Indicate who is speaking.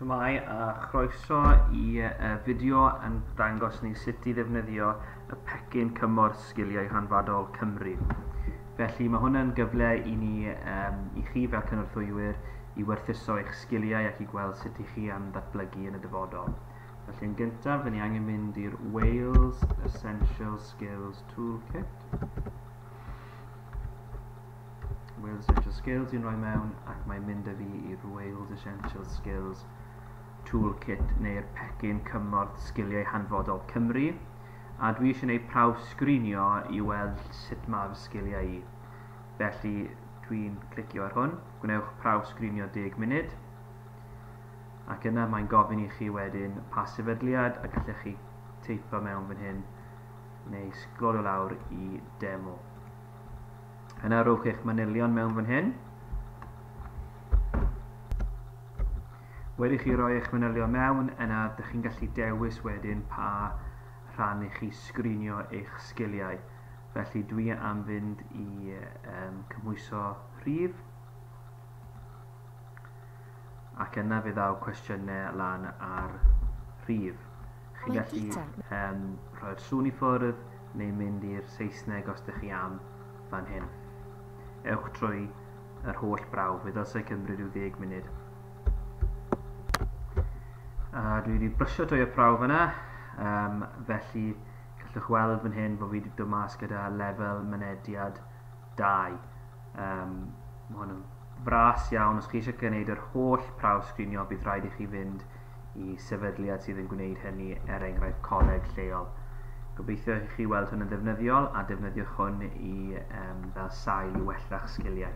Speaker 1: Shwmae a chroeso i y fideo yn dangos ni sut i ddefnyddio y pecyn cymorth Sgiliau Hanfodol Cymru. Felly mae hwn yn gyfle i ni, um, i chi fel cynorthwywyr, i werthuso eich sgiliau ac i gweld sut i chi am ddatblygu yn y dyfodol. Felly yn gyntaf, ni angen mynd i'r Wales Essential Skills Toolkit. Wales Essential Skills i'n rhoi mewn ac mae'n mynd â fi i'r Wales Essential Skills Toolkit neu'r pecyn cymorth sgiliau hanfodol Cymru a dwi eisiau gwneud prawf sgrinio i weld sut mae fy sgiliau i. Felly dwi'n clicio ar hwn, gwnewch prawf sgrinio 10 munud ac yna mae'n gofyn i chi wedyn pa sefydliad a gallech chi teipo mewn fan hyn neu sglolio lawr i demo. Yna rhowch eich manylion mewn fan hyn. Wedi chi roi eich manylion mewn, yna ydych chi'n gallu dewis wedyn pa rhan i chi sgrinio eich sgiliau. Felly dwi am fynd i um, cymhwyso rhif ac yna fe ddaw cwestiynau lan ar rhif. Chi'n gallu um, rhoi'r sŵn i ffwrdd, neu mynd i'r Saesneg os dych chi am, fan hyn. Ewch trwy yr holl brawf, fe ddylsai cymryd rhyw ddeg munud. A dwi wedi brysio trwy y prawf yna, um, felly gallwch weld fan hyn bod fi wedi dod mas gyda lefel mynediad Dau. Um, mae hwn yn fras iawn. Os chi eisiau gwneud yr holl prawf sgrinio, bydd rhaid i chi fynd i sefydliad sydd yn gwneud hynny, er enghraifft coleg lleol. Gobeithio i chi weld hwn yn ddefnyddiol a defnyddiwch hwn i, um, fel sail i wella'ch sgiliau.